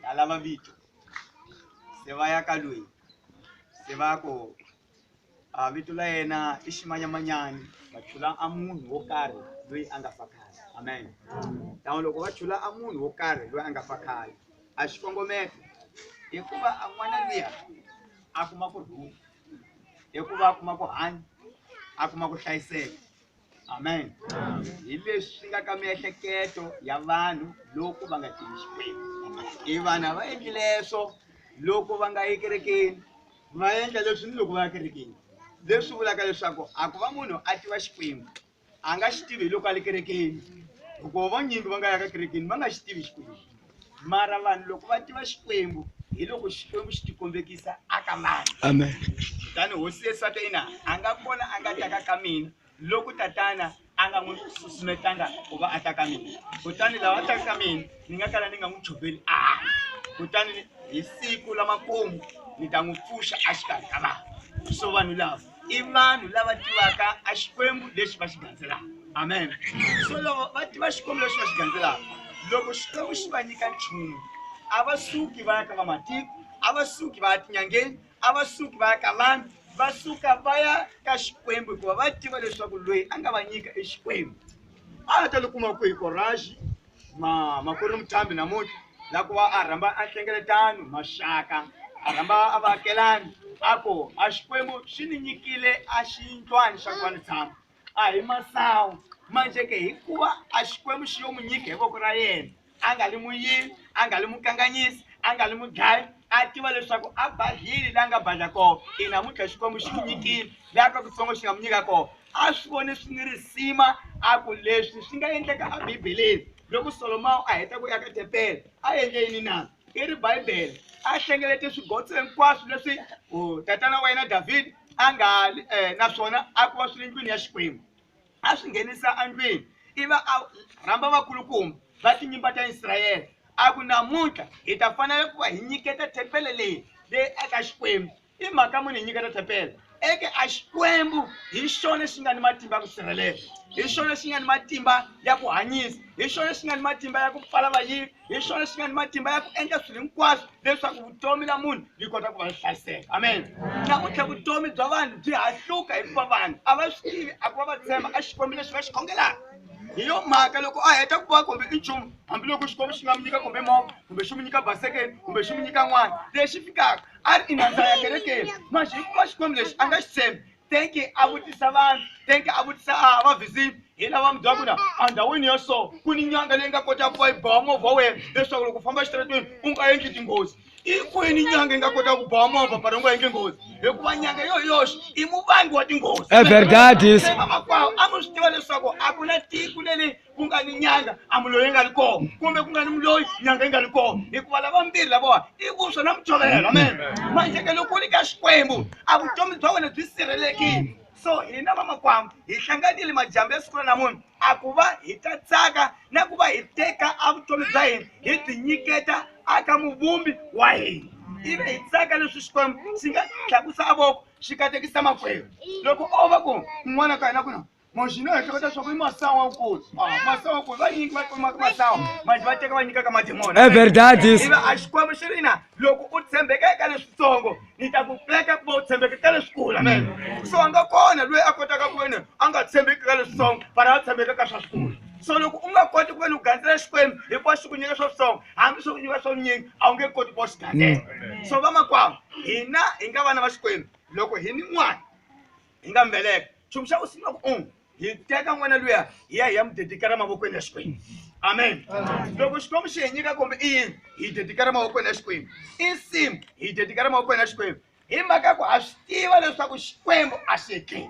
Dala mavito. Se va ya ka loyi. Se va ku a vito la yena i ximanyamanyani va chula a munhu wo karhi loyi a nga fa khale amen tan'we loko va chula a munhu wo karhi loyi a nga fa khale a xikongomelo hikuva a n'wana luya a kuma ku rhula hikuva a kuma ku hanya a kuma ku hlayiseka amen hi leswi swi nga ka miehleketo ya vanhu loko va nga tivi xikwembu i vanhu a va endli leswo loko va nga yi kerekeni va endla leswi ni loko va ya kerekeni leswi vulaka leswaku a ku va munhu a tiva xikwembu a nga xi tivi hi loko a le kerekeni hikuva vanyingi va nga ya ka kerekeni va nga xi tivi xikwembu mara vanhu loko va tiva xikwembu hi loko xikwembu xi tikombekisa aka vanhu amen tani hosi yesu a ta yina a nga kona a nga taka ka mina loko tatana a nga n'wi susumetanga ku va a ta ka mina kutani lawa a taka ka mina ni nga kala ni nga n'wi choveli a kutani hi siku lamakumu ni ta n'wi pfuxa a xikarhi ka vanhu so vanhu lava i vanhu lava tivaka a xikwembu lexi va xi gandzelaka amen so loko va tiva xikwembu lexi va xi gandzelaka loko xikwembu xi va nyika nchumu a va suki va ya ka vamatiko a va suki va ya tinyangeni a va suki va ya ka vanhu va suka va ya ka xikwembu hikuva va tiva leswaku loyi a nga va nyika i xikwembu a va ta li kuma kwihi koraxi ma ma ku ri muthambi namuntlha la ku va a rhamba a hlengeletano maxaka a rhamba a vaakelani a ku a xikwembu xi ni nyikile a xiyindlwani xa ku va ni tshama a hi masawu manje ke hikuva a xikwembu xi yo mu nyika hi voko ra yena a nga li muyini a nga li mukanganyisi a nga li mudlayi a tiva leswaku a badlile la nga badla kona i namuntlha xikwembu xi n'wi nyikile la ka kutsongo xi nga mu nyika kona a swi vone swi ni risima a ku leswi swi nga endleka a bibeleni loko solomawu a heta ku ya ka tepele a endle yini na i ri bibele a hlengelete swigotso hinkwaswo leswi tatana wa yena davhidi a nga eh, naswona a ku va swi ri ndlwini ya xikwembu a swi nghenisa endlwini i va a rhamba vakulukumba va tinyimba ta israyele a ku namuntlha hi ta fanele ku va hi nyiketa thempele leyi leyi eka xikwembu I mhaka muni hi nyiketa thempele eke a Xikwembu? Hi xona xi nga ni matimba ya ku sirhelela, hi xona xi nga ni matimba ya ku hanyisa, hi xona xi nga ni matimba ya ku pfala vayivi, hi xona xi nga ni matimba ya ku endla swilo hinkwaswo leswaku vutomi la munhu byi kota ku va hlayiseka. Amen. Namuntlha vutomi bya vanhu byi hahluka hikuva vanhu a va swi tivi a ku va va tshemba a Xikwembu lexi va xi khongelaka hi yo mhaka loko a heta ku va kumbe i nchumu hambiloko xikwembu xi nga mi nyika kumbe movha kumbe xi mi nyika basekeni kumbe xi mi nyika n'wana lexi fikaka ari inanzaya kerekeni mazviko xikwembu lexi a nga xi tshembi tenki a vutisa vanhu tenki a vutisa a ah, vavhizini hi lava mi byaka ku na endhawini ya so ku ni nyanga leyi nga kota ku va yi bawa movha wa wena leswaku loko u famba exitaratweni u nga endli tinghozi i kwini nyanga yi nga kota ku bawa movha pari u nga endli nghozi hikuva nyanga yo yoxe i muvangi wa tinghozi everdadisemakwavo a mi swi tiva leswaku a ku na tiku leli ku nga ni nyanga a muloyi yi nga ri koho kumbe ku nga ni muloyi nyanga yi nga ri koho hikuva lava mbirhi lavowa i vuswa na muchovela amen manje ke loko u ri ka xikwembu a vutomi bya wena byi sirhelekile so hina vamakwambu hi hlanganile majambu ya siku ra namunhu a ku va hi ta tsaka na ku va hi teka a vutomi bya hina hi byi nyiketa aka muvumbi wa hina ivi hi tsaka leswi xikwembu xi nga tlakusa a voko xi katekisa makwerhu loko o va ku n'wana ka hina ku na Mashina ya chakata swa ku masawa nkosi. Ah, masawa ku va nyingi va kuma masawa. Manje va teka va nyika ka mademona. É verdade isso. Iva a Xikwembu xi ri na loko u tshembeka eka leswitsongo ni ta ku pfuleka ku va u tshembeka ka leswikulu amen so a nga kona loyi a kotaka ku veni a nga tshembeki ka leswitsongo fana a tshembeka ka swa swikulu so loko u nga koti ku veni u gandzela xikwembu hikuva xi ku nyika swa switsongo hambi swi ku nyika swa vunyingi a wu nge koti ku va xi gandzela so vamakwavo hina hi nga vana va xikwembu loko hi ni n'wana hi nga mbeleka nchumu xa ku sungula ku um hi teka n'wana luya hi ya hi ya mu dedikela mavokweni ya xikwembu amen loko xikwembu xi hi nyika kumbe i yini hi dedikela mavokweni ya xikwembu i nsimu hi dedikela mavokweni ya xikwembu hi mhaka ku ha swi tiva leswaku xikwembu a xi hekeli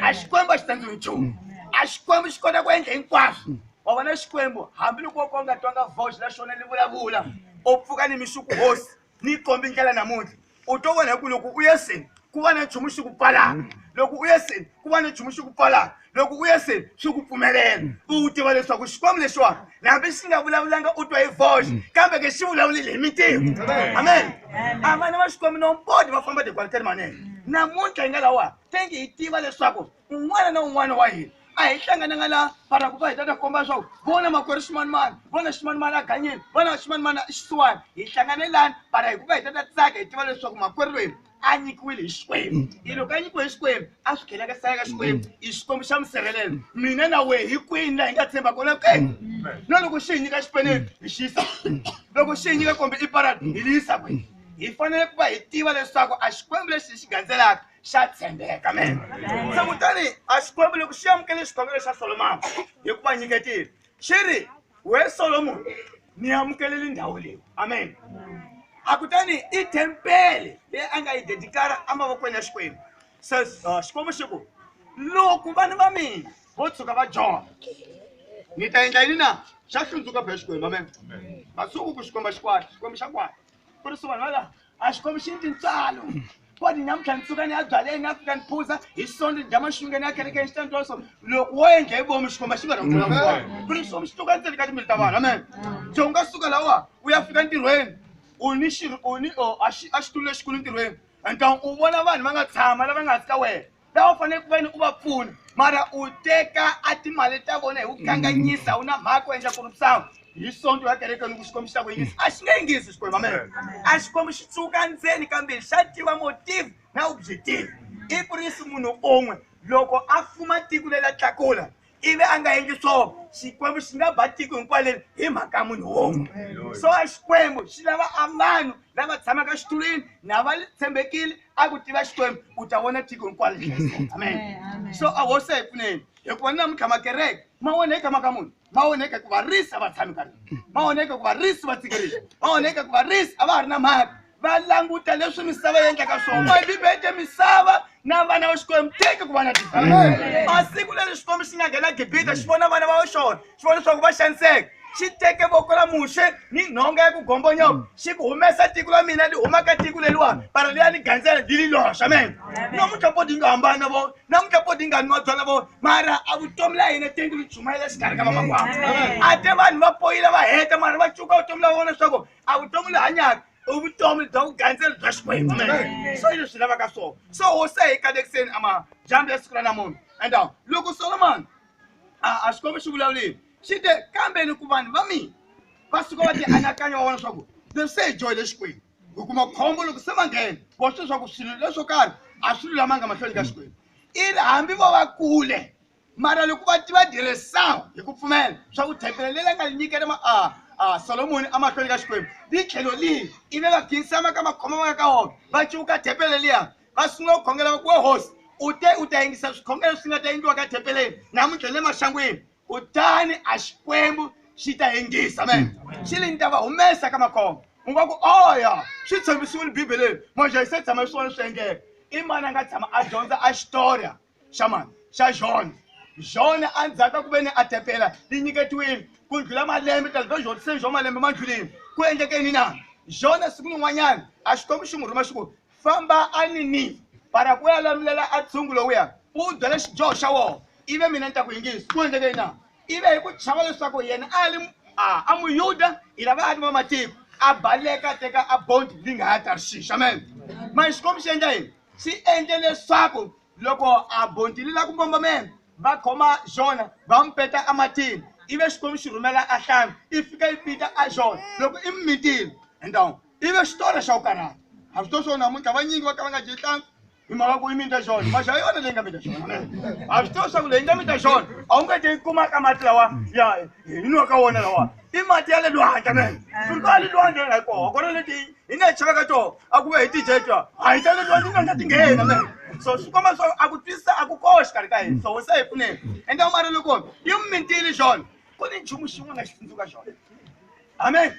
a xikwembu a xi tsandziwi nchumu a xikwembu xi kota ku endla hinkwaswo wa vona xikwembu hambiloko wo ka u nga twanga vox na xona li vulavula u pfuka ni mixuku hosi ni kombi ndlela namuntlha u to vona hi ku loko u ye seni ku va na nchumu xi ku pfalaka mm. loko u ye seni ku va na nchumu xi ku pfalaka loko u ye seni swi ku pfumelela mm. u wu tiva leswaku xikwembu lexiwani hambi xi nga vulavulanga u twa hi voxe mm. kambe ke xi vulavulile hi mintimu amen a vana va xikwembu nompodi va famba tikwaliteni manene namuntlha yi nga lawa tengi hi tiva leswaku un'wana na un'wana wa hina a hi hlangananga la mara ku va hi ta ta komba leswaku vona makwerhu ximanimani vona ximanimani a ganyeni vona ximanimani i xisiwani hi hlangane lani mara hi ku va hi ta ta tsaka hi tiva leswaku makwerhu lweni a nyikiwile hi xikwembu mm. i loko a nyikiwe hi xikwembu a swi kheleka sala ka xikwembu mm. i xikwembu xa musirhelelo mina na wehe hi kwini laha hi nga tshemba kona ke mm. na loko xi hi nyika xipeneni hi xisa loko xi hi nyika kombe i paradi hi liyisa kwini hi fanele ku va hi tiva leswaku a xikwembu lexi hi xi gandzelaka xa tshembeka men se kutani a xikwembu loko xi amukele xikombelo xa solomoni hi ku va nyiketile xi ri we solomoni ni amukeleli ndhawu leyi amen a kutani i tempele leyi a nga yi dedikara emavokweni ya xikwembu se uh, xikwembu xi ku loko vana va mina vo tshuka va jona ni ta endla yini na xa hlundzuka phe xikwembu amen masiku ku xikwembu xikwata xikwembu xa kwata ku ri swivanhu va laha a swi kombi xini tintswalo ko ni namuntlha ni tsuka ni ya byaleni a fika ni phuza hi sonto ni dya maxunge ni ya kerekeni xi ta ni twa so loko wo endla hi vomi xikomba xi nga ta kula kona ku ri xikwembu xi tuka ndzeni ka timbilu ta vanhu amen so u nga suka lawa u ya fika ntirhweni u ni xi u ni a xitulu lexikulu ntirhweni and u vona vanhu va nga tshama lava nga hansi ka wena lava u fanele ku ve ni u va pfuna mara u teka a timali ta vona hi ku kanganyisa wu na mhaka u endla ku ri sangu hi sonto ya kereke loko xikwembu xi ta ku yingisa a xi nge yingisi xikwembu amene a xikwembu xi tsuka ndzeni kambe xa tiva motive na u byi tiva i ku ri si munhu un'we loko a fuma tiko leri a tlakula ivi a nga endli swona xikwembu xi nga ba tiko hinkwayo leri hi mhaka ya munhu wun'we so a xikwembu xi lava a vanhu lava tshamaka xitulwini na va tshembekile a ku tiva xikwembu u ta vona tiko hinkwayo amen so a hosi a hi pfuneni hikuva ni namuntlha makereke ma onheka mhaka munhu ma onheka ku varisi a va tshami ka rona ma onheka ku varisi va tsikerisa ma onheka ku varisi a va ha ri na mhaka va languta leswi misava yi endlaka swona mm. bibele te misava na vana va xikwembu teke ku va na gibita a siku leri xikwembu xi nga nghena gibita mm. xi vona vana va xona xi vona leswaku va xaniseka xi teke voko ra muxe ni nhonga ya ku gombonyoko mm. xi ku humesa tiko ra mina li huma ka tiko leliwani para liya ni gandzela li li loxa mina namuntlha po ti nga hambani na vona namuntlha po ti nga nwa byona vona mara a vutomi la hina tenti li chumayela xikarhi ka vamakwavo a te vanhu va poyile va heta mara va cuka vutomi la vona leswaku a vutomi le hanyaka i vutomi bya vugandzelo bya xikwembu swo yini swi lavaka swona so wo se hi kalekiseni amadyambu ya siku ra namuntlha and uh, loko solomon a xikwembu xi vulavulile xi te kambeni ku vanhu va mina va suka va ti anakanya wa vona swa ku leswi se hi joyile xikwembu hi kuma khombo loko se va nghena vo swi leswaku swilo leswo karhi a swi lulamanga mahlweni ka xikwembu i hambi vo va kule Mara loko va ti va diresawu hi ku pfumela swa ku thempele leyi nga nyikela ma a a Solomoni amahlweni ka Xikwembu li tlhelo lihi ivi va khinsama ka makhoma va nga ka wona va cuka thempele liya va sungula ku khongela va ku we hosi u te u ta yingisa swikhongelo swi nga ta endliwa ka thempeleni namuntlha le maxangwini kutani a Xikwembu xi ta yingisa me xi li ni ta va humesa ka makhoma u nga ku oya swi tshembisiwile bibeleni moxa yi se tshama swi vona swi endleka i mani a nga tshama a dyondza a xitorya xa mani xa jone jone endzhaku ka ku ve ni a tepela ti nyiketiwile ku ndlhula malembe tala to jhotiseni xo malembe ma ndlhuleni ku endlekeni na jone siku lin'wanyana a xikwembu xi n'wi rhuma xi ku famba a ni ni para ku ya lamulela a tshungu lowuya u byela xidyoho xa wona ive mina ni ta ku yingisi ku endlekeni na ive hi ku chava leswaku yena a li a muyuda hi lava a ri va matiko a baleka teka a bondi li nga ya tarshish amen mani xikwembu xi endla yini swi endle leswaku loko a bontili la ku mbombombela va khoma xona va n'wi peta ematini ivi xikwembu xi rhumela a hlanga i fika yi pita a xona loko i mimitile endhawu ivi xitori xa ku karhata a swi to swo namuntlha vanyingi va ka va nga dyi hlanga hi mhaka ku i mita xona maxi ya yona leyi nga mita xona a swi to swa ku leyi nga mita xona a wu nga te yi kumaka mati lawa ya hi nwa ka wona lawa i mati ya le lwandle me furika le lwandle nga koho kona leti hi nga chava ka toho a ku ve hi tijetwa a hi ta le lwandle na nga ti nghena me so swi komba swa a ku twisisa a ku koho xikarhi ka hina so se hi pfuneni ende mara loko yi mi mintile xona ku ni nchumu xin'we nga xi tsundzuka xona amen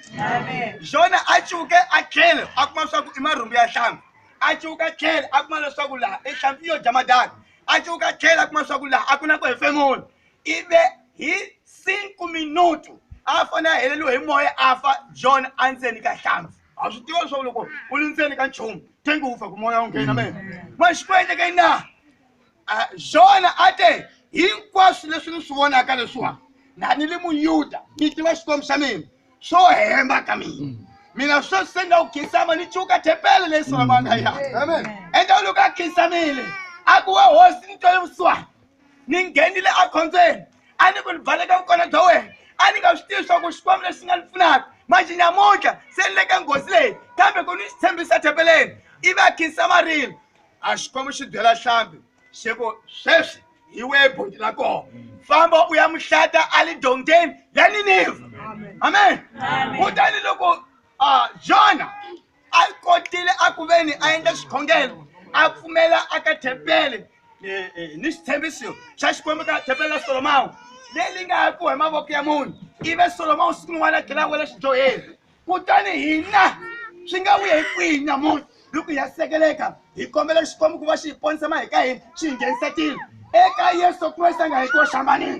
xona a cuke a tlhele a kuma swa ku i marhumbu ya hlambi a cuka tlhele a kuma leswaku laha i hlambi yo dya madaka a cuka tlhele a kuma swa ku laha a ku na ku hefemula ive hi 5 minutu a fane a heleliwe hi moya a fa john a ndzeni ka hlampfu a swi tiva leswaku loko u li ndzeni ka nchumu tengi wu fa ku moya wu nghena me ma xi ku endleke na john a te hinkwaswo leswi ni swi vonaka leswiwa na ni li muyuda ni tiva xikwembu xa mina swo hemba ka mina mina sweswi se ni la ku khinsama ni cuka thepele leyi solomanga ya endla loko a khinsamile a ku wa hosi ni twele vusiwana ni nghenile ekhombyeni a ni ku ni baleka vukona bya wena a ni nga swi tivi swa ku xikwembu lexi nga ni pfunaka manje nyamuntlha se ni le ka nghozi leyi kambe ku ni xi tshembisa thembeleni ivi a khinsa marilo a xikwembu xi byela hlambi xi ku sweswi hi wehe boti la kona famba u ya muhlata a le dongeni ya niniva amen kutani loko a jona a kotile a ku ve ni a endla xikhongelo a pfumela a ka thempele eh, eh, ni xitshembiso xa xikwembu ka thempele la solomawu leyi li nga hakiwa hi mavoko ya munhu ive solomawu siku rin'wana a tlhela a wela xidyoheri kutani hina swi nga vuya hi kwihi nyamuntlha loko hi ya sekeleka hi kombela xikwembu ku va xi hi ponisa ma hi ka hina xi hi nghenisa tilo eka yesu kreste a nga hi koxambanini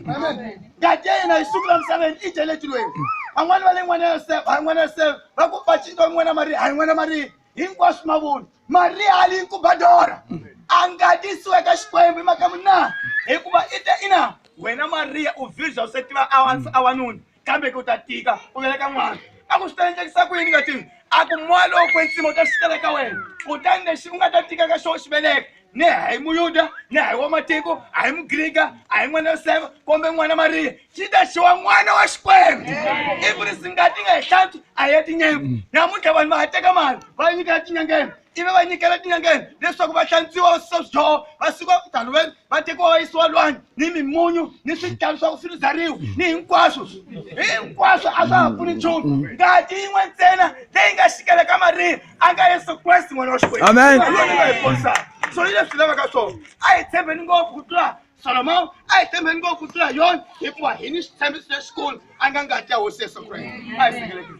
ngati ya yena yi sungula misaveni i dyele tilweni van'wani va le n'wana ya yosefa hayi n'wana yosefa va ku vacito wa n'wana mariya hayi n'wana mariya hinkwaswo mavoni mariya ali yi kubadora a ngatisiwe ka xikwembu hi maka munna hikuva i te ina wena mariya u virja u se tiva awansi awanuni kambe ku ta tika ku veleka n'wana a ku swi ta endlekisa ku yini nga tivi a ku moya lowo kwetsima u ta fikela ka wena kutani lexi u nga ta tika ka xona xi veleka ne a hi muyuda ne a hi wa matiko a hi mugrika a hi n'wana yosefa kumbe n'wana mariya xi ta xiwa n'wana wa xikwembu ivi ri singati nga hi hlantswi a ya tinyembu namuntlha vanhu va ha teka mali va nyika ya tinyangeni ivi va nyikela etinyangeni leswaku va hlantswiwa va susa swidyoho va suka tano va va tekiwa va yisiwa lwani ni mimunyu ni swidlalo swa ku swi rizariwa ni hinkwaswo hinkwaswo a swa ha pfuni nchumu ngati yin'we ntsena leyi nga xikela ka mariya a nga yesu kreste n'wana wa xikwembu Amen. Yona yi nga hi ponisaka. so yi leswi lavaka swona a hi tshembeni ngopfu ku tlula solomon a hi tshembeni ngopfu ku tlula yona hikuva hi ni xitshembiso lexikulu a nga ngati ya hosi yesu kreste a hi sekelekile